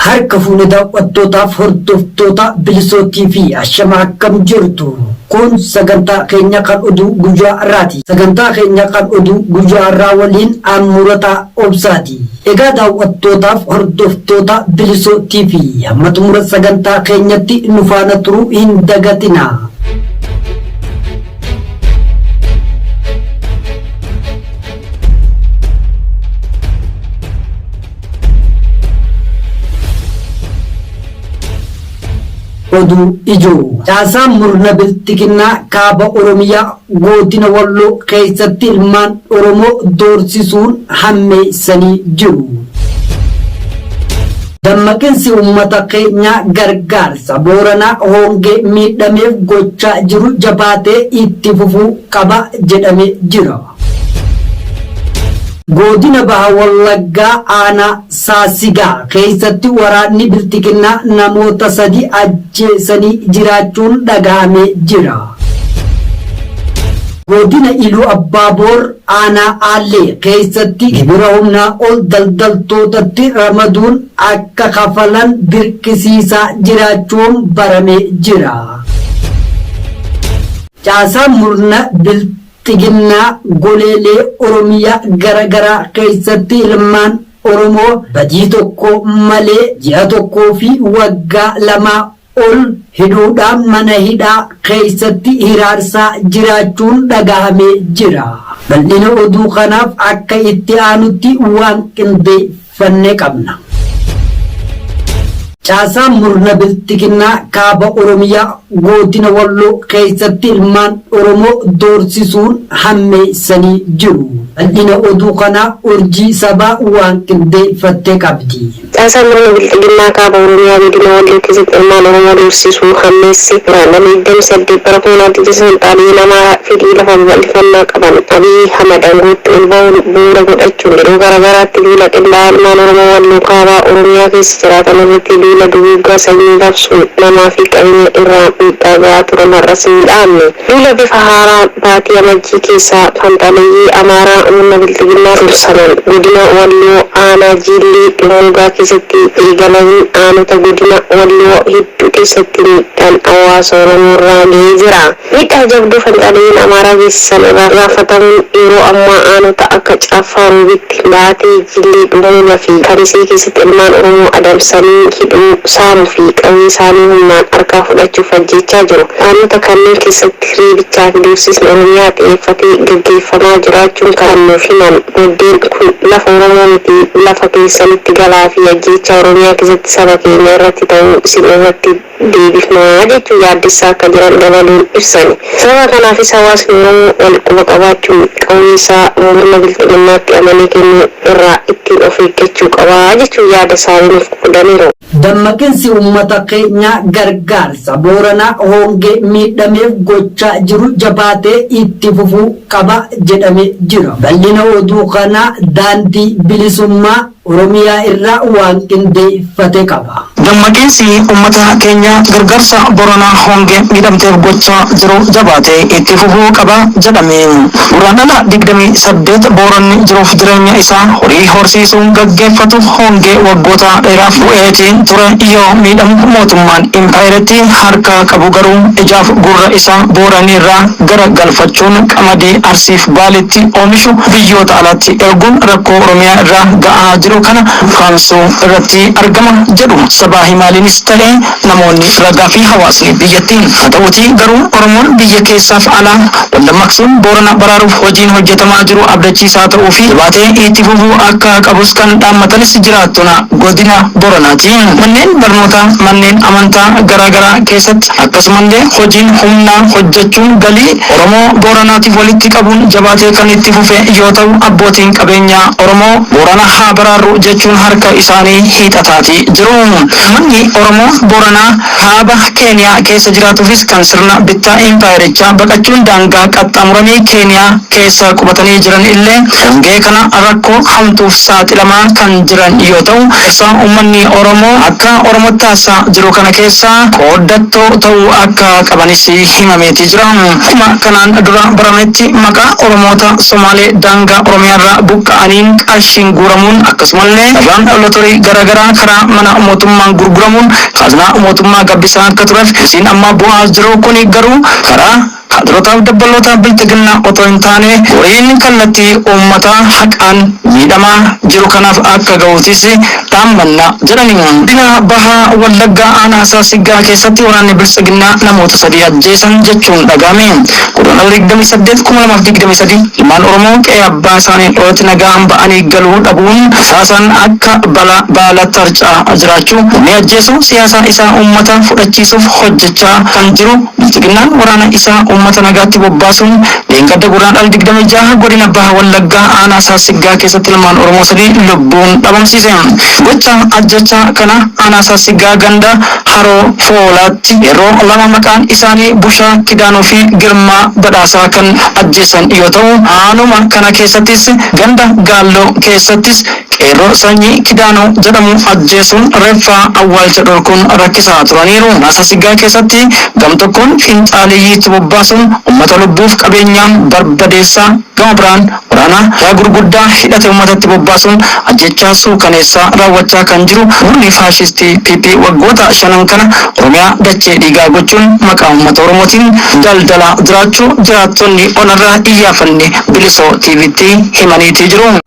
Harka fuune daawwattootaaf hordoftoota bilisoo TV ashama akkam jirtu. Kun sagantaa keenya kan oduu guyyaa irraati. Sagantaa keenya kan oduu guyyaa irraa waliin aan murataa obsaati. Egaa daawwattootaaf hordoftoota bilisoo TV hamma xumura sagantaa keenyatti nu faana turuu hin dagatina. Oduu ijoo caasaa murna biltiginnaa kaaba Oromiyaa gootina Walloo keessatti ilmaan Oromoo doorsisuun hammeessanii jiru. Dammaqinsi uummata keenyaa gargaarsa booranaa hoongee miidhameef gochaa jiru jabaatee itti fufuu qaba jedhamee jira. Godina Baha Wallaggaa Aanaa Saasigaa keessatti waraanni Bilxiginnaa namoota sadi ajjeesanii jiraachuun dhaga'amee jira. Godina Iluu Abbaa Boor Aanaa Aallee keessatti gibira humnaa ol daldaltootatti ramaduun akka kafalan dirqisiisaa jiraachuun baramee jira. Caasaan murna Xiginnaa goleelee Oromiyaa gara garaa keessatti ilmaan Oromoo badii tokko malee ji'a tokkoo fi waggaa lamaa ol hidhuudhaan mana hidhaa keessatti hiraarsaa jiraachuun dhagahamee jira. Bal'ina oduu kanaaf akka itti aanutti waan qindeeffame. fannee qabna. Caasaan murna bilxiginnaa kaaba Oromiyaa goodina Walloo keessatti ilmaan Oromoo doorsisuun hammeessanii jiru. Bal'ina oduu kanaa urjii sabaa waan qindeeffatte qabdi. Caasaan murna bilxiginnaa kaaba Oromiyaa godina Walloo keessatti ilmaan Oromoo doorsisuu hammeesse Guraandhala 28 bara 2019 Xaaliyiin Amaaraa fedhii lafa babal'ifannaa qaban Abiy Ahmad angootti ol ba'uun bu'uura godhachuun yeroo garagaraatti duula qindaa'aa ilmaan Oromoo Walloo Kaabaa Oromiyaa keessa jiraatan irratti duula duguuggaa sanyii labsuun namaa fi qabeenya irraan miidhaa ga'aa turan har'as hin dhaabne. Duula bifa haaraan baatii Amajjii keessa fanxaaleyyii Amaaraa murna Bilxiginnaa dursaman godina Walloo aanaa Jiillii Dhummuugaa keessatti eegalameen aanota godina Walloo hedduu keessatti miidhaan hawaasa Oromoo irraa ga'ee jira. Miidhaa jabduu Fanxaaleyyiin Amaaraa geessisan irraa gaafatamuun yeroo ammaa aanota akka Caaffaa Roobitti, Baatee, Jillee, Dhummuuga fi Kamisee keessatti ilmaan Oromoo adamsanii hidhuu, saamu fi qawwee isaanii humnaan harkaa fudhachuuf ajjeechaa jiru. Aanota kanneen keessatti reebichaa fi doorsisni Oromiyaa xiyeeffate gaggeeffamaa jiraachuun kan nuuf himan maddeen kun lafa Oromoo miti lafa keessanitti galaa fi ajjeechaa Oromiyaa keessatti saba keenya irratti ta'u isin irratti deebifna jechuun yaaddessaa akka jiran dabaluun ibsani. Sababa kanaafis hawaasni Oromoo wal quba qabaachuun qawwee isaa murna bilxiginnaatti amanee kenne irraa ittiin of eeggachuu qaba jechuun yaada isaanii nuuf qoodaniiru. Dammaqinsi uummata keenyaa gargaarsa Booranaa hongee miidhameef gochaa jiru jabaatee itti fufuu qaba jedhamee jira. Bal'ina oduu kanaa Daandii Bilisummaa. Oromiyaa irra waan qindeeffate qaba. Dammaqinsi ummata keenya gargaarsa Booranaa hongeen miidhamteef gochaa jiru jabaatee itti fufuu qaba jedhame. Guraandhala digdamii saddeet Booranni jiruuf jireenya isaa horii horsiisuun gaggeeffatu hongee waggoota dheeraaf bu'eetiin ture yoo miidhamu mootummaan impaayerattii harkaa qabu garuu ijaaf gurra isaa Booraniirraa gara galfachuun qamadii Arsiif Baaleetti oomishu biyyoota alaatti erguun rakkoo Oromiyaa irra ga'aa jiru kana ukkaamsuu irratti argama jedhu sabaa himaalenis ta'e namoonni ragaa fi hawaasni biyyattii. Haa ta'uutii garuu Oromoon biyya keessaaf alaa wal dammaqsuun Boorana baraaruuf hojiin hojjetamaa jiru abdachiisaa ta'uu fi jabaatee itti fufuu akka qabus kan dhaammatanis jiraattona godina Boranaati. Manneen barnootaa, manneen amantaa garaa garaa keessatti akkasumallee hojiin humnaa hojjechuun galii Oromoo Booranaatiif walitti qabuun jabaatee kan itti fufe yoo ta'u, abbootiin qabeenyaa Oromoo Boorana haa baraarru jechuun harka isaanii hiixataati jiru. Uummanni Oromoo Booranaa Kaaba Keeniyaa keessa jiraatuufis kan sirna bittaa impaayerichaa baqachuun daangaa qaxxaamuranii Keeniyaa keessa qubatanii jiran illee hongee kana rakkoo hamtuuf saaxilamaa kan jiran yoo ta'u, keessa uummanni Oromoo akka Oromootti haasa'aa jiru kana keessaa qooddattoo ta'uu akka qabanis himameeti. jira. Akkuma kanaan dura barametti maqaa Oromoota Somaalee daangaa Oromiyaarraa buqqa'aniin qarshiin guuramuun akkasumallee carraan lotorii garaagaraa karaa mana mootummaan gurguramuun kaaznaa mootummaa gabbisaa akka tureef hojiin amma bu'aa jiru kuni garuu karaa kaadirootaaf dabbaloota bilxiginnaa otoo hin taane horiin kallattii uummata haqaan miidhamaa jiru kanaaf akka gahuutis Daammannaa, jedhame. Godina Baha Wallaggaa Aanaa Saasiggaa keessatti waraanni Biltsiginnaa namoota 3 ajjeesan jechuun dhaga'ame. Gurraandhala 28, 2023 ilmaan Oromoo qe'ee abbaa isaanii irratti nagaan ba'anii galuu dhabuun rasaasaan akka balaa baala tarca'aa jiraachuu, namni ajjeesu siyaasa isaa uummata fudhachiisuuf hojjechaa kan jiru Biltsiginnaan waraana isaa uummata nagaatti bobbaasuun Dheengadda Gurraandhala 26 godina Baha Wallaggaa aanaa Saassiggaa keessatti ilmaan Oromoo sadii lubbuun dhabamsiise. Gocha ajjeechaa kana aanaa Saassiggaa ganda Haroo Foolaatti qeerroo lama maqaan isaanii Bushaa Kidaanuu fi Girmaa Badhaasaa kan ajjeesan yoo ta'u, aanuma kana keessattis ganda Gaalloo keessattis Qeerroo Sanyii Kidaanuu jedhamu ajjeesuun reeffa awwaalcha dhorkuun rakkisaa turaniiru. Masasiggaa keessatti gam tokkoon finxaaleyyii itti bobbaasuun ummata lubbuuf qabeenyaan barbadeessaa gama biraan waraana hidhaa gurguddaa hidhate ummatatti bobbaasuun ajjeechaa suukaneessaa raawwachaa kan jiru murni faashistii PP waggoota shanan kana Oromiyaa dachee dhiigaa gochuun maqaa ummata Oromootiin daldalaa jiraachuu jiraattonni onarraa iyyaafanne Bilisoo TVtti himaniitii jiru.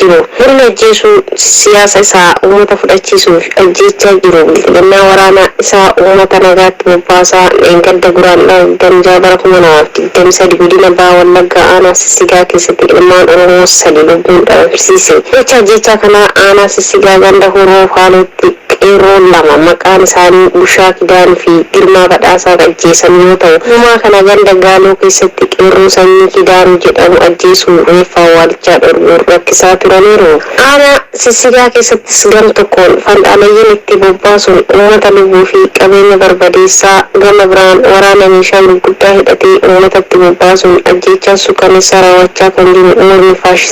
jiru. Murni ajjeesuu siyaasa isaa uummata fudhachiisuuf ajjeechaa jiru bilxiginnaa waraana isaa uummata nagaatti bobbaasaa dheengadda Guraandhala 26 bara 2023 godina Baha Wallaggaa aanaa Sissigaa keessatti ilmaan Oromoo 3 lubbuun dhabamsiise. Gocha ajjeechaa kanaa aanaa Sissigaa ganda Hurroo Faalootti. Qeerroon lama maqaan isaanii Bushaa Kidaan fi Girmaa Badhaasaa kan ajjeesan yoo ta'u, Gumaa kana ganda Gaaloo keessatti qeerroo sanyii Kidaan jedhamu ajjeesuu reeffa awwaalichaa dhorguun rakkisaa turaniiru. Aanaa Sissigaa keessattis gam tokkoon fanxaalayyiin itti bobbaasuun uummata lubbuu fi qabeenya barbadeessaa, gama biraan waraana meeshaa gurguddaa hidhatee uummatatti bobbaasuun ajjeechaa sukkanneessaa raawwachaa kan jiru murni faashistii.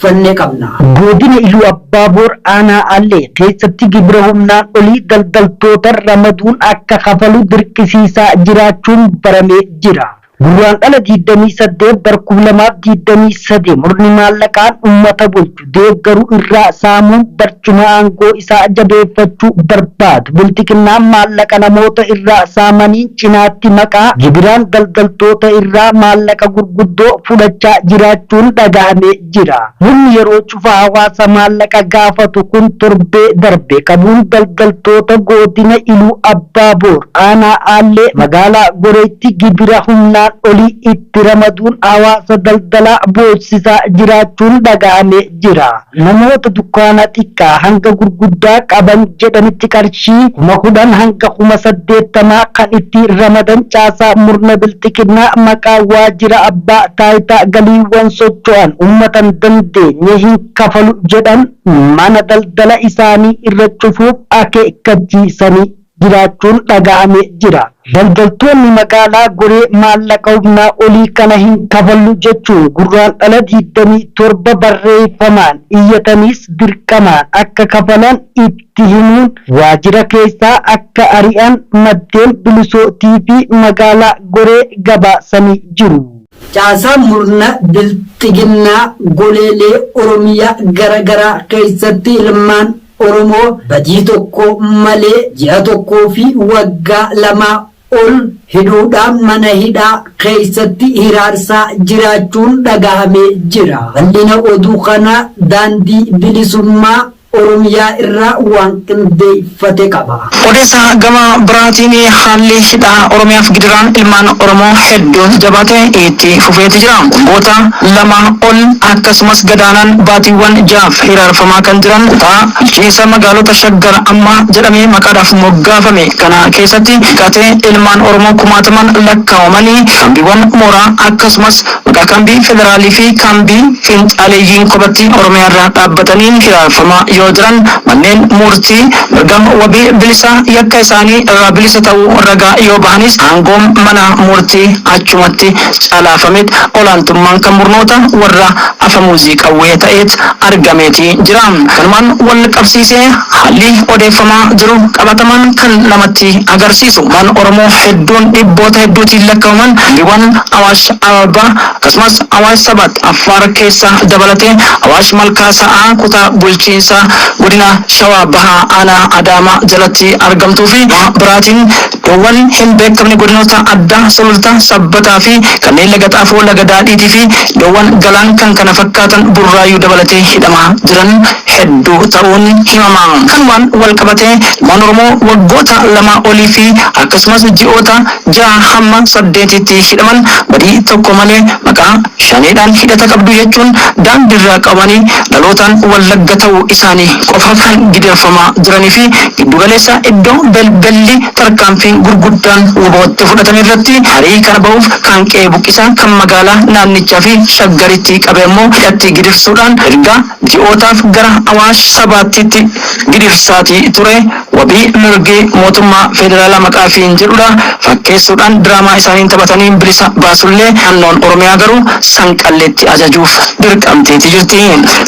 fannee qabna. Godina Iluu Abbaa Boor Aanaa Aallee keessatti gibira humnaan olii daldaltoota ramaduun akka kafalu dirqisiisaa jiraachuun baramee jira. Gurraandhala 28 bar 2023 murni maallaqaan ummata bulchu deeggaru irraa saamuun bar Akkuma aangoo isaa jabeeffachuu barbaadu, bilxiginnaan maallaqa namoota irraa saamaniin cinaatti maqaa gibiraan daldaltoota irraa maallaqa gurguddoo fudhachaa jiraachuun dhagahamee jira. Murni yeroo cufa hawaasa maallaqa gaafatu kun torbee darbe qabuun daldaltoota goodina Iluu Abbaa Boor aanaa Aallee magaalaa Goreetti gibira humnaan olii itti ramaduun hawaasa daldalaa boossisaa jiraachuun dhagahamee jira. Namoota dukkaana xiqqaa hanga gurguddaa qaban jedhanitti qarshii kuma 10 hanga kuma 80 kan itti ramadan caasaa murna bilxiginnaa maqaa waajira abbaa taayitaa galiiwwan socho'an ummatan dandeenye hin kafalu jedhan mana daldala isaanii irra cufuuf akeekkachiisanii jiraachuun dhaga'ame jira. Daldaltoonni magaalaa Goree maallaqa humnaa olii kana hin kafallu jechuun Gurraandhala 27 barreeffamaan iyyataniis dirqamaan akka kafalan itti himuun waajjira keessaa akka ari'an maddeen Bilisoo TV magaalaa Goree gabaasanii jiru. Caasaa murna bilxiginnaa goleelee Oromiyaa gara garaa keessatti ilmaan. Oromoo badii tokko malee ji'a tokkoo fi waggaa lamaa ol hidhuudhaan mana hidhaa keessatti hiraarsaa jiraachuun dhagahamee jira. Bal'ina oduu kanaa Daandii Bilisummaa Oromiyaa irraa waan qindeeffate qaba. Odeessa gama biraatiin haalli hidhaa Oromiyaaf gidiraan ilmaan Oromoo hedduun jabaate itti fufeeti jira. Waggoota lama ol akkasumas gadaanaan baatiiwwan ja'aaf hiraarfamaa kan jiran kutaa bulchiinsa magaalota Shaggar amma jedhamee maqaadhaaf moggaafame kana keessatti hiikkatee ilmaan Oromoo kumaatamaan lakkaawamanii kaambiiwwan mooraa akkasumas Maqaa kaambii federaalii fi kaambii fiinxaaleeyyiin kophattii Oromiyaa irraa dhaabbatanii hiraarfamaa yoo jiran manneen muurtii mirga wabii bilisa yakka isaanii irraa bilisa ta'uu ragaa yoo bahanis aangoom mana muurtii achumatti calaafameet olaantummaan kan murnoota warra afamuuzii qawwee ta'eet argameeti jira. Kanumaan wal qabsiisee haalli odeeffamaa jiru qabatamaan kan namatti agarsiisu ilmaan Oromoo hedduun dhibboota hedduutiin lakkawaman kaambiiwwan Awaash, Awaash Ararbaa akkasumas Awaash Sabat Affaar keessa dabalatee Awaash Malkaa Sa'aa kutaa bulchiinsa godina Shawaa Bahaa aanaa Adaamaa jalatti argamtuu fi gama biraatiin iddoowwan hin beekamne godinoota addaa Sululta, Sabbataa fi kanneen Laga Xaafoo, Laga Daadhiitii fi iddoowwan Galaan kkf Burraayyuu dabalatee hidhamaa jiran hedduu ta'uun himama. Kanumaan walqabatee ilmaan Oromoo waggoota lamaa olii fi akkasumas ji'oota. ja'a hamma saddeetiitti hidhaman badii tokko malee maqaa Shaneedhaan hidhata qabdu jechuun daandiirraa qabanii dhalootaan Wallagga ta'uu isaanii qofaaf kan gidirfamaa jiranii fi giddu galeessa iddoo belbelli tarkaanfiin gurguddaan wbo itti fudhatame irratti harii kana ba'uuf kaan qe'ee buqqisaa kan magaalaa naannichaa fi Shaggaritti qabe ammoo hidhatti gidirsuudhaan erga ji'ootaaf gara Awaash Sabaattiitti gidirsaatii ture wabii mirgi mootummaa feederaalaa maqaa fiin jedhudha fakkeessuudhaan diraamaa isaaniin taphatanii bilisa baasullee naannoon Oromiyaa garuu Sanqalleetti ajajuuf dirqamteeti jirti.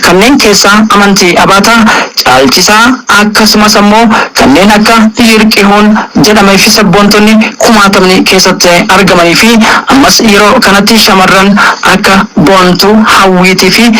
Kanneen keessaa Amantii Abaataa, Caalchisaa akkasumas ammoo kanneen akka Yirqihuun jedhameefi sabboontonni kumaatamni keessatti argamaniifi ammas yeroo kanatti shamarran akka Boontuu, Hawwiitiifi.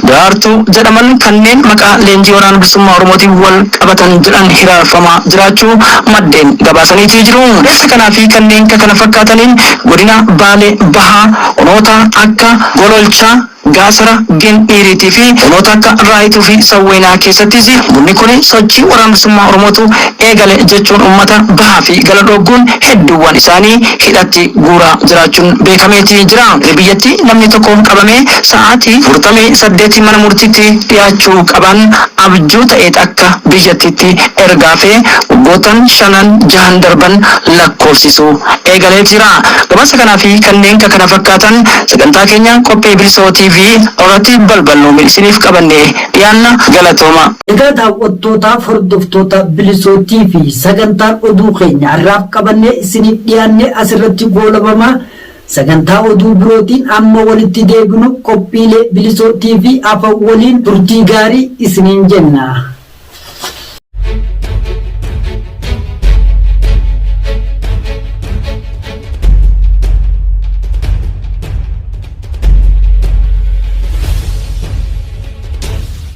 Daraartuu jedhaman kanneen maqaa leenjii Waraana Bilisummaa Oromootiin wal qabatan jedhan hiraarfamaa jiraachuu maddeen gabaasaniiti jiru. Hiraarsa kanaa fi kanneen ka kana fakkaataniin godina Baalee Bahaa onoota akka Gololchaa, Gaasara, Gindhiiriitii fi onoota akka Raayituu fi Sawweenaa keessattis murni kuni sochii Waraana Bilisummaa Oromootu eegale jechuun uummata bahaa fi gala dhoogguun hedduuwwan isaanii hidhatti guuraa jiraachuun beekameeti jira. Biyyattii namni tokko qabamee keessatti sa'aatii afurtamii saddeeti mana murtiitti dhiyaachuu qaban abjuu ta'eet akka biyyattiitti erga hafee waggootan shanan jahan darban lakkoofsisuu eegalee jira. Gabaasa kanaa fi kanneen ka kana fakkaatan sagantaa keenya qophii Bilisoo TV irratti balballoome isiniif qabannee dhiyaanna galatooma. Egaa daawwattootaa fi hordoftoota Bilisoo TV sagantaan oduu keenya har'aaf qabannee isiniif dhiyaanne asirratti goolabama. Sagantaa oduu birootiin amma walitti deebinu qophiilee Bilisoo TV afan waliin turtii gaarii isiniin jenna.